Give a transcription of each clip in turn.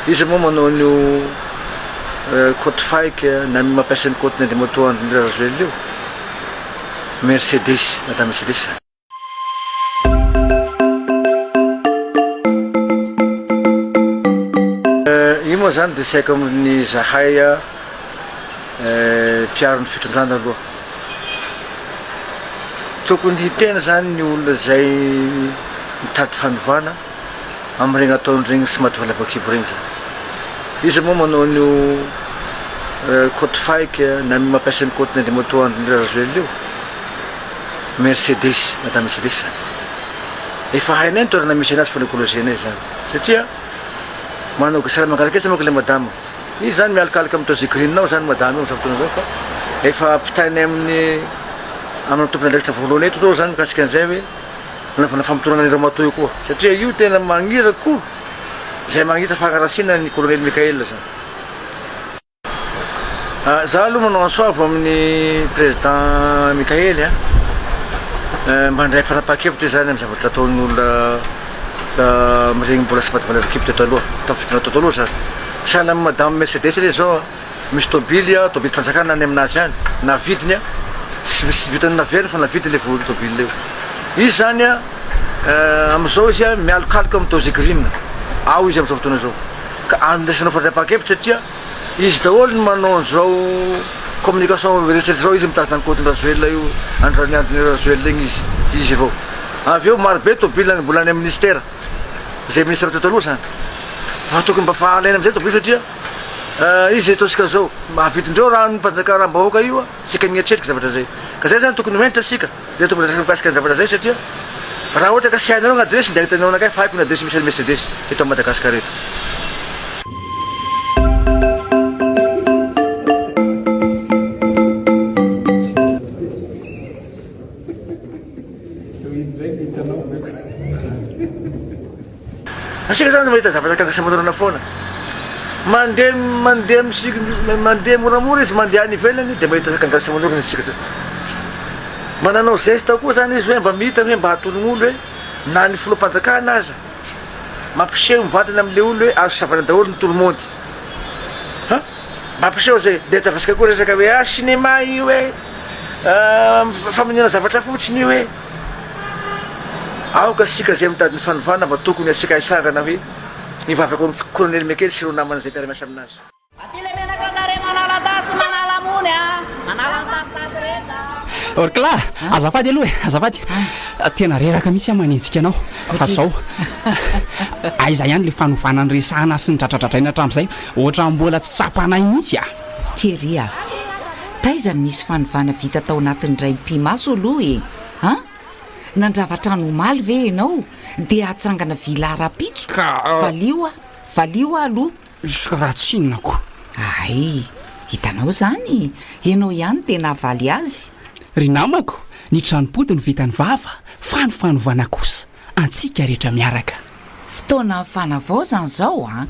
Iza moa manao an'io côte fake na mampiasa ny côte ny ady moto andry rajoelina io? Mercedes na Mercedes zany. Io moa zany de tsy haiko amin'ny zahay mpiaro ny fitondrana aloha. Tokony hiteny zany ny olona zay mitady fanovana. amin'ireny ataony ireny tsy mahatonga an'ilay bakibo ireny izany. Iza moa manao an'io côte fake na mampiasa ny côte-ny an'ilay moto an'Andry Rajoelina io? Mercedes, madame Mercedes izany. Efa hainay ny toerana misy anazy fa nikolozeanay izany satria manao gasy ara mangaraketsa manko ilay madama. Izy izany mialokaloka amin'ny Tozigrine ao izany madama io amin'izao fotoana izao fa efa ampitainay amin'ny amina tompon'andraikitra voalohany eto izao izany mikasika an'izay hoe, Nanaovana famotorana an'i Ramatoa io koa satria io tena magnira ko zay magnitra fagnarasina an'i Kolonely Mickaël zany. Ah, za aloha manao ansoavo amin'ny Président Mickaël a, eh, mba handray fanapahan-kevitra izy zany amin'ny zavatra ataon'ny olona ah, miregny mbola tsy maty voalavo-kevitra taloha, tamin'ny fotoana tao taloha zany. Sahala amin'i Madame Mercedes re zao a. Misy tôbily a, tôbilim-panjakana any amin'azy any, navidiny a, tsy vi- tsy vitan'ny naveriny fa navidiny le vohon'ny tôbily eo. Izy zany a, eh, am'zao izy a mialokaloka am' Dozy Green, ao izy am'zao fotoana zao. Ka andraisanao fadriampahan-kevitra satria izy daholo no manao an'zao communication eritreritry zao, izy mitazona an'i Côte-n'Rajoelina io, any Raniandon'i Rajoelina igny izy, izy avao. Avy eo maro be tôbily agny mbola any am' Ministera, zay Ministra teo taloha zany. Fa tokony mba fa alaina am'zay tôbily satria. Izy zay ataontsika zao, mahavitrindreo raha ny mpanjaka raha mbahoaka io tsika mieritreritra zavatra zay. Ka zay zany tokony ho entitra tsika, zay tokony resaka mikasika ny zavatra zay satria raha ohatra ka tsy hainareo ny adresy dia ahitanao anakay fa haiko ny adresy misy an'i Mercedes eto Madagascar eto. Isika izany mahita zavatra gaga sy aman'orana foana. Mandeha mandeha misik- mandeha moramora izy mandeha any ivelany dia mahita gaga sy aman'orana isika teo. Mba nanao geste koa izany izy hoe mba mita hoe mba atologno olo hoe na ny filoham-panjakana aza mampiseho mivantana amin'ilay olo hoe azo savana daholo ny tolomôndy. Ha? Mba ampiseho izay dia tsy avesika koa resaka hoe ah cinéma io e, ah, famonoana zavatra fotsiny io e. Aoka isika izay mitady ny fanovana mba tokony asiaka haisangana hoe ny vavaka ny kolonely mekely sy ireo namany izay mpiara-miasa aminazy. Aty le menaka andare manala tasy manala mony a! Manala ny tasitasy rehetra a! Orkla, azafady aloha e, azafady, tena reraka mihitsy aho manenjika anao, fa izao, aiza ihany ilay fanovana niresahana sy nidradradradraina hatramin'izay, ohatran'ny mbola tsy tsapanay mihitsy a! Thierry a! Taiza no nisy fanovana vita tao anatin'ny draim-pimaso aloha e? An! Nandrava trano omaly ve ianao dia hatsangana villa rahampitso? Ka! Valio aho, valio aho aloha! Izy raha tsinona ko! Hay! Hitanao izany, ianao ihany dia nahavaly azy! Ry namako, ny tranom-pody no vitan'ny vava fa ny fanovana kosa antsika rehetra miaraka! Fotoana fanavaozana izao an!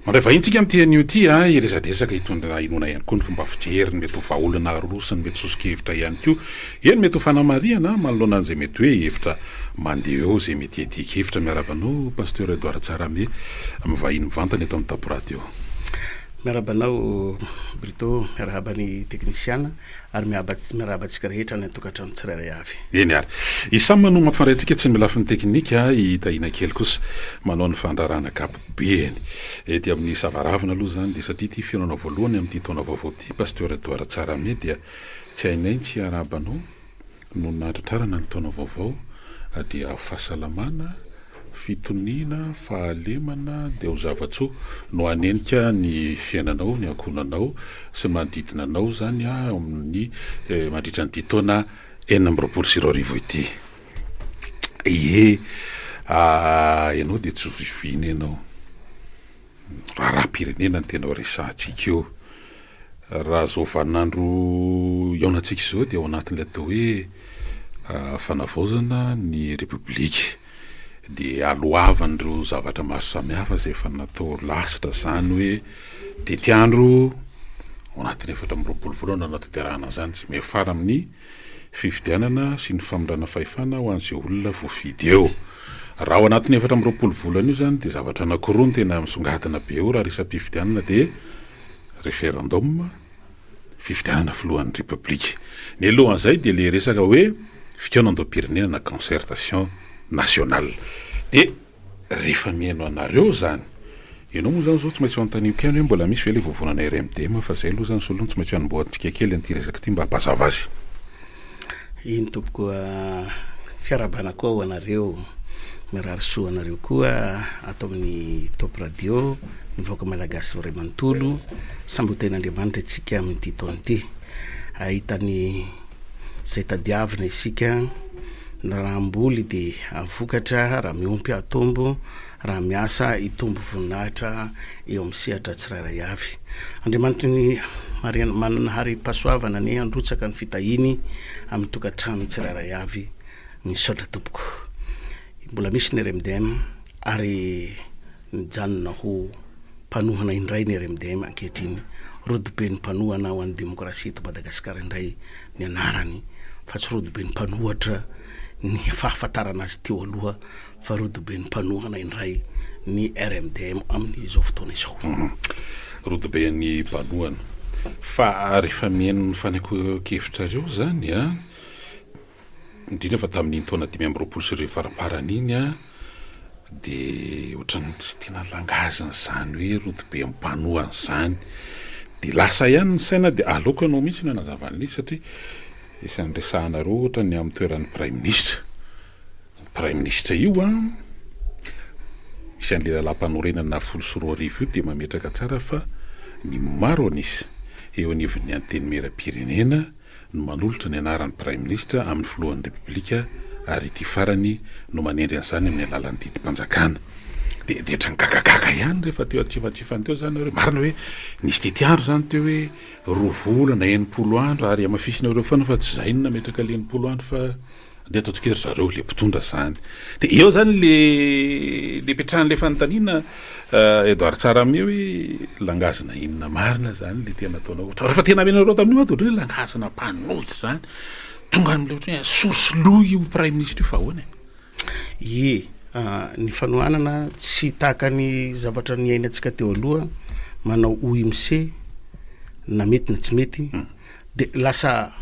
Mandray vahiny tsika amin'ity anio ity a, hiresadresaka hitondra inoana ihany koa ny fomba fijeriny, mety ho vahaolana arorosiny, mety soso-kevitra ihany koa, eny mety ho fanamarihana manoloana an'izay mety hoe hevitra mandeha eo izay mety hiadian-kevitra. Miarahaba anao Pasteur Edouard Tsarame amin'ny vahiny mivantana eto amin'ny Tapo Radio. Miarahaba anao Brito, miarahaba ny teknisiana ary miarahaba antsika rehetra any an-tokantrano tsirairay avy. Eny ary. I Sam no mampifandray antsika tsy amin'ny lafiny teknika, i Tahiana Kely kosa manao ny fandrarana kapa. Eny, ety amin'ny savaravina aloha izany dia satria ity fihaonana voalohany amin'ity taona vaovao ity, Pasteur Edouard Tsarame dia tsy hainay ny tsy hiarahaba anao noho ny nahatratrarana ny taona vaovao dia ho fahasalamana, fitoniana, fahalemana dia ho zava-tsoa no hanenika ny fiainanao, ny ankohonanao sy ny manodidina anao izany amin'ny mandritra an'ity taona enina amby roapolo sy roa arivo ity. Ie ah ianao dia tsy zoviana ianao. Raharaham-pirenena no tena resahantsika eo. Raha izao vaninandro iaonantsika izao dia ao anatin'ilay atao hoe fanavaozana ny Repoblika. Dia alohavan'ireo zavatra maro samihafa izay efa natao lasitra izany hoe tetiandro ao anatin'ny efatra amby roapolo volana no hanatanterahana an'izany, tsy miafara amin'ny. fifidianana sy ny famindrana fahefana ho an'izay olona voafidy eo. Raha ao anatin'io efatra amby roapolo volana io izany dia zavatra anankiroa no tena misongadina be eo raha resa-pifidianana dia referendum, fifidianana filohan'ny Repoblika. Ny alohan'izay dia ilay resaka hoe fikaonandoham-pirenena na concertation nationale. Dia. Rehefa mihaino anareo zany. Ianao moa zany zao tsy maintsy ho anontaniko ihany hoe mbola misy ve ilay vovonana RMDM fa zay aloha zany solony tsy maintsy hanombohantsika kely an'ity resaka ity mba ampazava azy. Eny tompoko fiarahabana koa ho anareo. Mirary soa ho anareo koa ato amin'ny Top Radio, ny vahoaka malagasy ray manontolo. Samby ho tahin'Andriamanitra isika amin'ity taona ity. Ahita ny. izay tadiavina isika, ny rahamboly dia hahavokatra raha miompy hatombo, raha miasa hitombo voninahitra eo amin'ny sehatra tsirairay avy. Andriamanitry ny harena manana harem-pahasoavana anie handrotsaka ny fitahiany amin'ny tokantrano tsirairay avy. Misaotra tompoko. Mbola misy ny RMDM ary Mijanona ho mpanohana indray ny RMDM ankehitriny, Rodoben'ny mpanohana ho an'ny demokrasia eto Madagasikara indray ny anarany fa tsy Rodoben'ny mpanohatra ny fahafantarana azy teo aloha fa Rodoben'ny mpanohana indray ny RMDM amin'izao fotoana izao. Rodoben'ny mpanohana. Fa rehefa mihaino ny fanehoan-kevitrareo izany, indrindra fa tamin'iny taona dimy amby roapolo sy arivo faramparany iny a, dia ohatran'ny tsy tena langaziny izany hoe rodobe mpanohana izany, dia lasa ihany ny saina dia aleoko ianao mihitsy no hanazava an'le izy satria isan'ny resahanareo ohatra ny amin'ny toeran'ny praiminisitra, ny praiminisitra io a, misy an'le lalàmpanorenana nahafolo sy roa arivo io dia mametraka tsara fa ny maro an'isa eo anivon'ny antenimieram-pirenena, no manolotra ny anaran'ny Praiminisitra amin'ny Filohan'ny Repoblika ary ity farany no manendry an'izany amin'ny alalan'ny didim-panjakana. Dia dia ohatran'ny gagagaga ihany rehefa teo an-kifantsifany teo izany nareo. Marina hoe nisy tetiandro izany teo hoe roa volana, enimpolo andro ary hamafisinareo foana fa tsy izay no nametraka ilay enimpolo andro fa dia ataontsika hoe ry zareo ilay mpitondra izany. Dia eo izany ilay ipetrahan'ilay fanontaniana Edouard Tsaramieh hoe langage na inona marina izany ilay tena ataonao ohatra. Rehefa tena amenareo tamin'io ato ohatran'ny hoe langage na mpanolotsa izany. Tonga amin'ilay ohatran'ny hoe source lou io praiminisitra io fa ahoana e? Ie, ah, ny fanohanana tsy tahaka ny zavatra niainantsika teo aloha, manao OMC na mety na tsy mety. Hmm. De lasa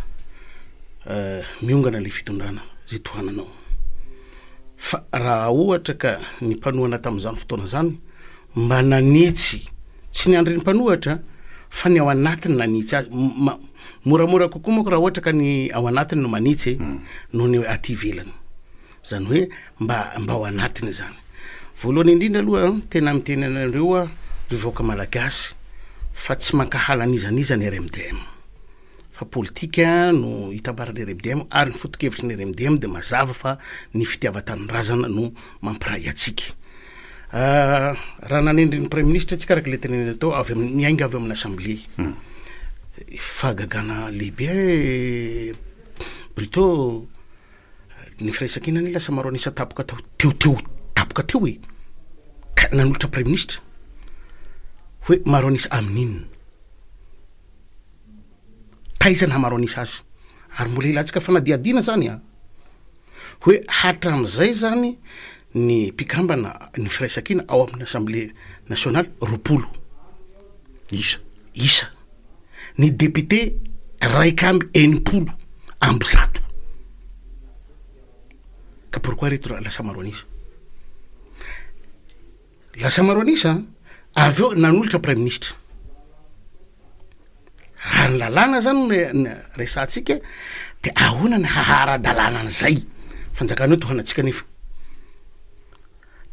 miongana le fitondrana ze tohananao. Fa raha ohatra ka ny mpanohana tamin'izany fotoana zany mba nanitsy, tsy ny andrin'ny mpanohatra fa ny ao anatiny nanitsy azy, moramora kokoa manko raha ohatra ka ny ao anatiny no manitsy e, noho ny aty ivelany. Izany hoe mba mba ao anatiny izany. Voalohany indrindra aloha tena miteny anareo aho ry vahoaka malagasy fa tsy mankahala an'iza n'iza ny RMDM fa politika no hitambaran'ny RMDM ary ny foto-kevitry ny RMDM dia mazava fa ny fitiavan-tanindrazana no mampiray antsika. Ah, raha nanendry ny praiminisitra antsika araka ilay tenenina tao avy amin'ny miainga avy amin'ny assemblée. Hmm. Fahagagana lehibe eh, Brito Ny firaisankina anie lasa maro an'isa tapoka tao teo teo tapoka teo e! ka nanolotra praiminisitra hoe maro an'isa amin'inona? taiza naha maro an'isa azy? ary mbola ilantsika fanadihadiana zany an! hoe hatramin'izay zany ny mpikambana ny firaisankina ao amin'ny Assemblée nationale roapolo isa, isa, ny députés iraika amby enimpolo amby zato ka pourquoi ireto lasa maro an'isa? Lasa maro an'isa an! Avy eo nanolotra Praiminisitra. Raha ny lalàna zany no resahantsika dia ahoana ny haha ara-dalàna an'izay? Fanjakana io tohanantsika nefa.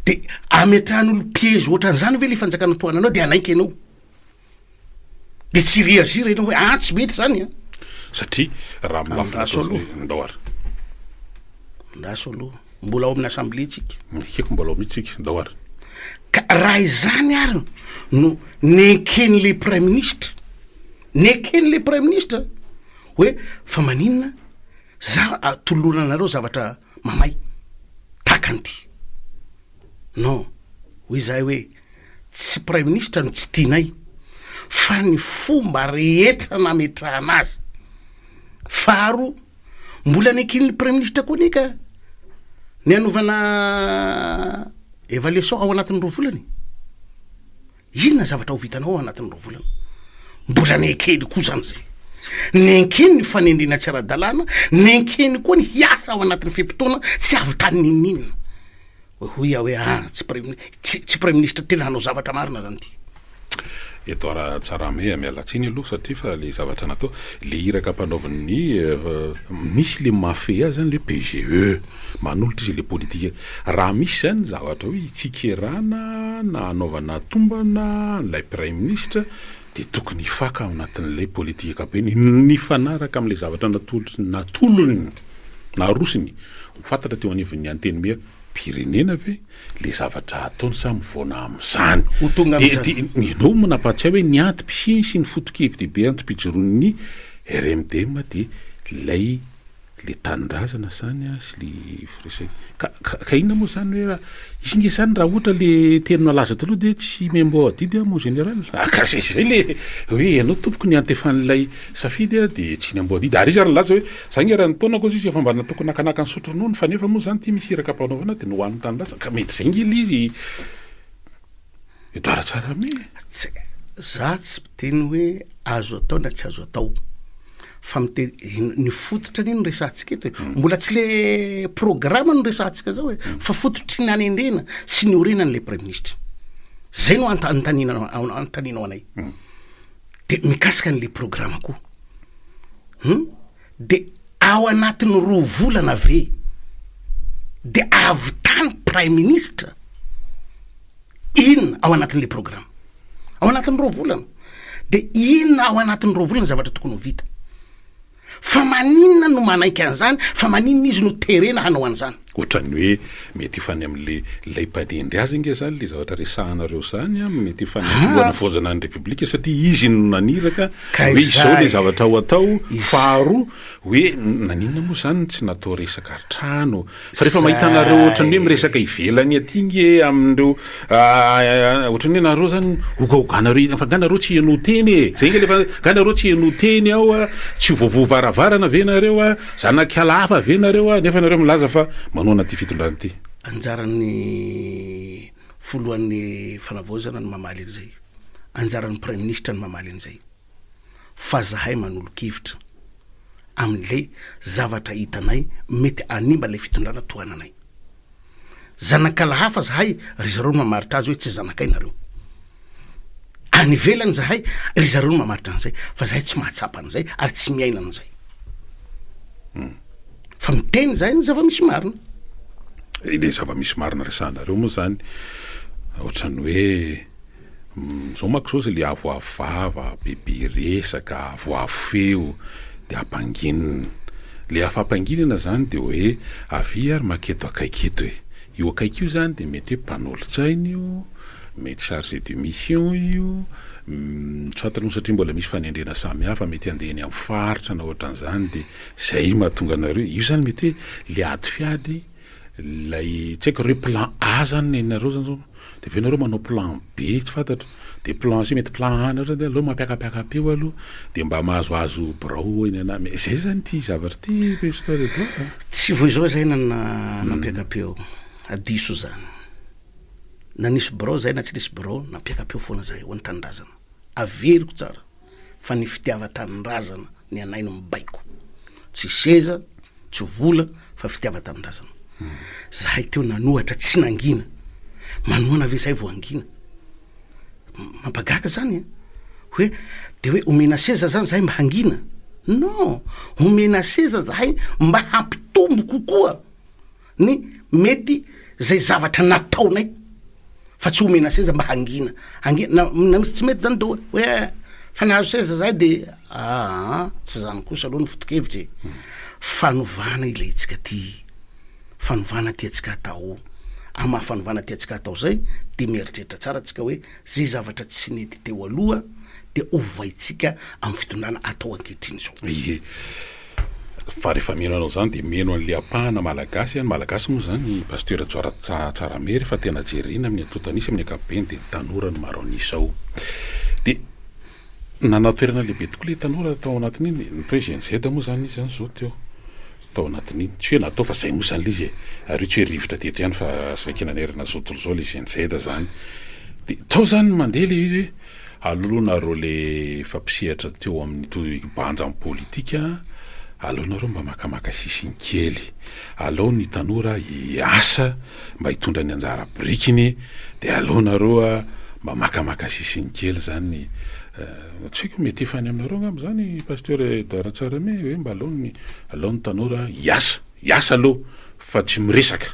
Dia ametrahan'olo-piége ohatran'izany ve le fanjakana tohananao dia hanaiky ianao? de tsy hi-reagir enao hoe ah tsy mety zany an! Satria raha amin'ny lafiny Andraso ataovy aloha. ndao ary. Andraso aloha. Mbola ao amin'ny assemblée tsika. Ekeko mbola ao mihitsy tsika, ndao ary. Ka raha izany ary no nenken'ilay praiminisitra, neken'ilay praiminisitra hoe fa maninona za atolorana anareo zavatra mamay tahaka an'ity. Non, hoy izahay hoe tsy praiminisitra no tsy tianay fa ny fomba rehetra nametrahana azy. Faharoa, mbola nekin'ny praiminisitra koa anie ka ny hanaovana evaluation ao anatin'ny roa volana e. Inona zavatra ho vitanao anatin'ireo volana? Mbola nenkeny koa zany zay. Nenkeny ny fanendrena tsy ara-dalàna, nenkeny koa ny hiasa ao anatin'ny fe-potoana tsy avy tany ninoninona. Hoy aho hoe ah, tsy praimin-, tsy, tsy praiminisitra tena hanao zavatra marina zany ity. Edouard Ratsarahame, ah, miala tsiny aloha satria fa le zavatra natao, le iraka ampanaovin'ny, eh, misy le mahafehy azy zany le PGE, manolotra izy le politika, Raha misy izay ny zavatra hoe tsikerana na hanaovana tombana an'ilay Praiminisitra dia tokony hifaka ao anatin'ilay politikam-peno nifanaraka amin'ilay zavatra natolony, narosony ho fantatra teo anivon'ny Antenimieram, pirenena ve ilay zavatra ataony sa mivaona amin'izany? Ho tonga amin'izany. Dia ianao no nampahatsiahy hoe ny antom-pisiany sy ny foto-kevi-dehibe antom-pijoroan'ny RMDM dia ilay. le tanindrazana zany a sy le firesena ka ka ka inona moa zany hoe raha izy nge zany raha ohatra le teny nalaza taloha de tsy membo adidy a mon général ah ka zay zay le hoe ianao tompoko ny antefan'ilay safidy a de tsy nembo adidy ary izy ary nilaza hoe za nge raha ny taonako zay izy efa mba natoky nakanaka nisotro ronono fa nefa moa zany ty misy iraka ampanaovana de nohaniny tanindrazana ka mety zay nge le izy Midara tsara mi e! Tsy, za tsy miteny hoe azo atao na tsy azo atao, fa miteny ny fototra anie no resahantsika eto e! Mbola tsy le programa no resahantsika zao e! Fa fototry ny hanendrena sy ny orena an'ilay praiminisitra. Zay no ant- anontaniana an- anontanianao anay. Dia mikasika an'ilay programa koa. Humm. De ao anatin'ny roa volana ve de ahavitany praiminisitra inona ao anatin'le programa? Ao anatin'ny roa volana. De inona ao anatin'ny roa volana zavatra tokony ho vita? Fa maninona no manaiky an'zany fa maninona izy no terena hanao an'zany? Ohatran'ny hoe mety ho any amin'ilay ilay mpanendry azy ange izany ilay zavatra resahanareo izany an, mety ho any amin'ny fanavaozana ny Repoblika satria izy no naniraka hoe izao ilay zavatra ho atao, faharoa hoe naninona moa izany no tsy natao resaka trano fa rehefa mahita anareo ohatran'ny hoe miresaka ivelany aty ange amin'ireo ohatran'ny hoe nareo izany hogahoganareo fa nga nareo tsy heno teny e! zay ange ilay fa nga nareo tsy heno teny ao an, tsy ho voavoa varavarana ve nareo an? Zanak'ala hafa ve nareo a? Nefa nareo milaza fa manohana ity fitondrana ity. Anjaran'ny Filohan'ny Fanavaozana ny mamaly an'izay. Anjaran'ny Praiminisitra ny mamaly an'izay. Fa zahay manolo-kevitra amin'ilay zavatra hitanay mety hanimba ilay fitondrana tohananay. Zanak'Allah hafa zahay ry zareo no mamaritra azy hoe tsy zanakay nareo. Any ivelany zahay ry zareo no mamaritra an'izay fa zahay tsy mahatsapa an'izay ary tsy miaina an'izay. Hmm. Fa miteny zahay ny zava-misy marina. Ilay zava-misy marina resahanareo moa zany ohatran'ny hoe Zao manko zao zay le avoavo vava, be be resaka, avoavo feo de ampanginina. Le afa ampanginana zany de hoe avia ary maka eto akaiky eto e. Io akaiky io zany de mety hoe mpanolo-tsaina io, mety chargé de mission io, soit aloha satria mbola misy fanendrena samy hafa, mety handeha eny amin'ny faritra na ohatran'izany de zay mahatonga anareo, io zany mety hoe le ady fiady, lay tsy haiko re plan A zany nenareo zany zao, Dia avy eo nareo manao plan B tsy fantatro, dia plan C mety plan A nareo dia aleo mampiakapiaka peo aloha dia mba mahazoazo birao eny ana mais zay zany ity zavatra ity Pasteur Edouard a! Tsy vao izao izay na nampiaka-peo, hadiso izany. Na nisy birao izay na tsy nisy birao, nampiaka-peo foana izahay ho an'ny tanindrazana. Averiko tsara. fa ny fitiavan-tanindrazana ny anay no mibaiko, tsy seza, tsy vola fa fitiavan-tanindrazana. Zahay teo nanohatra tsy nangina, manohana ve zay vao hangina? Mampagaga zany e! hoe de hoe omena seza zany zahay mba hangina? Non, omena seza zahay mba hampitombo kokoa. ny mety zay zavatra nataonay fa tsy omena seza mba hangina ange na na misy tsy mety zany de hoe hoe fa nahazo seza zahay de aa tsy zany kosa aloha ny foto-kevitra e fanovana ilay hetsika ty fanovana tiantsika atao amy maha fanovana tiantsika atao zay de mieritreritra tsara tsika hoe Izay zavatra tsy nety teo aloha dia ovaintsika amin'ny fitondrana atao ankehitriny izao. Ie. Fa rehefa mino anao izany dia mino an'ilay ampahana Malagasy, ny Malagasy moa izany Pasteur Rajaora Tsaramihy rehefa tena jerena amin'ny antontan'isa amin'ny ankapobeny dia tanora no maro an'isa ao. Dia. Nanao toerana lehibe tokoa ilay tanora tao anatin'iny, ny atao hoe Gen-Z moa izany izy izany izao teo, tao anatin'iny. Tsy hoe natao fa izay moa izany ilay izy e! Ary io tsy hoe rivotra teto ihany fa saika nanerana izao tontolo izao ilay Gen-Z izany. Dia tao izany ny mandeha ilay izy hoe, alohanareo ilay efa mpisehatra teo amin'ny banjan'ny politika, aleonareo mba makamaka sisiny kely. Alao ny tanora hiasa mba hitondra ny anjara birikiny dia alao nareo mba makamaka sisiny kely zany tsy haiko mety efa any aminareo angamba zany Pasteur Edouard Tsarame hoe mba alao ny alao ny tanora hiasa hiasa alou fa tsy miresaka.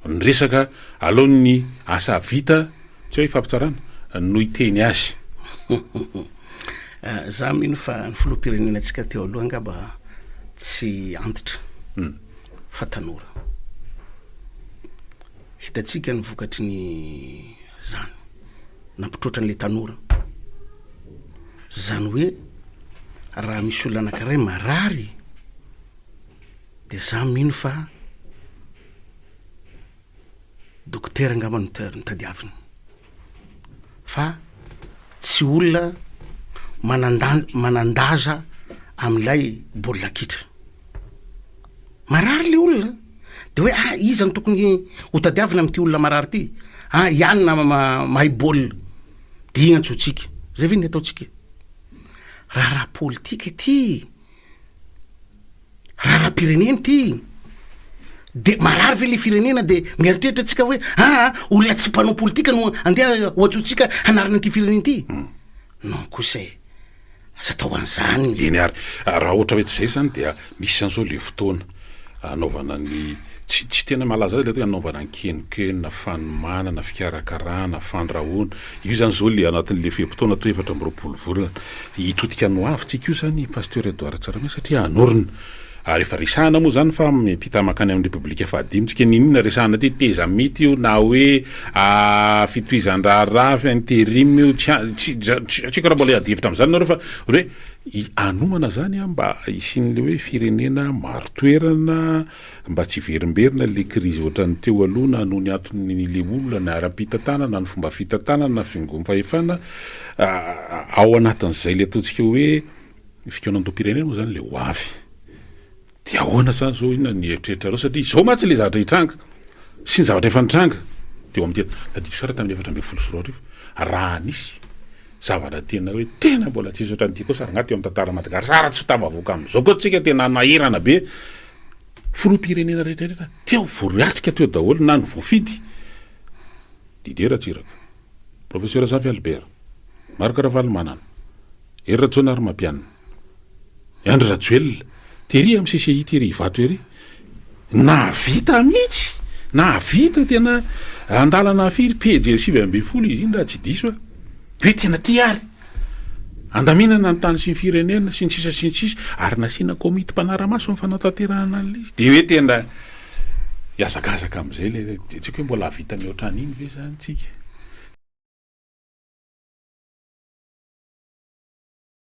Ny resaka aloha ny asa vita tsy hoe fampitsarana no hiteny azy. Za mino fa ny filoham-pirenenantsika teo aloha angamba tsy antitra fa tanora. Hitantsika ny vokatry ny zany nampitroatra an'ilay tanora. Zany hoe raha misy olona anakiray marary de za mino fa. Dokotera angamba no no tadiaviny fa tsy olona manandan- manandaza amin'ilay baolina kitra. Marary le olona de hoe ah iza no tokony ho tadiavina amin'ity olona marary ity? Ah i anona ma- mahay baolina de igny antsointsika, zay ve ny ataontsika e? Raharaha politika ity. Raharaham-pirenena ity e! Dia marary ve ilay firenena dia mieritreritra antsika hoe aa olona tsy mpanao politika no andeha hoantsointsika hanarina an'ity firenena ity? Hmm. Non kosa e! Aza atao an'izany. Eny ary, raha ohatra hoe tsy izay izany dia misy an'izao ilay fotoana anaovana ny, tsy tsy tena malaza azy ilay hoe anaovana ny kenokena, fanomanana, fikarakarana, fandrahoana. Io izany izao le anatin'le fe-potoana atao efatra amby roapolo volana. Hitodika any ho avy tsika io zany i Pasteur Edouard Tsaramiasa satria hanorina. Ary efa resahana moa zany fa miampita mankany amin'ny Repoblika fahadimy tsika. Niniana resahana aty tezamita io na hoe fitohizan-draharaha fa interim io tsy tsy haiko raha mbola hiady hevitra amin'izany nareo fa hoe hanomana zany mba hisian'le hoe firenena maro toerana. mba tsy hiverimberina ilay krizy ohatran'ny teo aloha na noho ny antony ilay olona na ara-pitantanana na fomba fitantanana na fiangoam-pahefana ao anatin'izay ilay ataontsika hoe fikaonandoham-pirenena moa izany ilay ho avy dia ahoana izany izao inona ny eritreritrareo satria izao mantsy ilay zavatra hitranga sy ny zavatra efa nitranga teo amin'ny tena tadidio sara tamin'ny efatra ambin'ny folo sy roa arivo raha nisy Zavatra tena hoe tena mbola tsisy ohatran ity koa sa rangah teo am tantara Madagasr sa raha tsy tafavoaka am zao koa tsika tena anahirana be filoha pirenena rehetra rehetra teo voariatrika teo daholo na ny voafidy Didier Ratsiraka Professeur Zafy Albert Marc Ravalomanana Hery Rajaonarimampianina Andry Rajoelina, tery am CCI tery Ivato ery, nahavita mihitsy, nahavita tena andalana firy pejy sivy ambin'ny folo izy iny raha tsy diso aho, hoe tena ity ary, handaminana ny tany sy ny firenena sy ny sisa sy ny sisa, ary nasiana komity mpanara-maso ny fanatanterahana an'ilay izy, dia hoe tena hihazakazaka amin'izay ilay, dia tsy haiko hoe mbola hahavita ny ohatran'iny ve izany isika.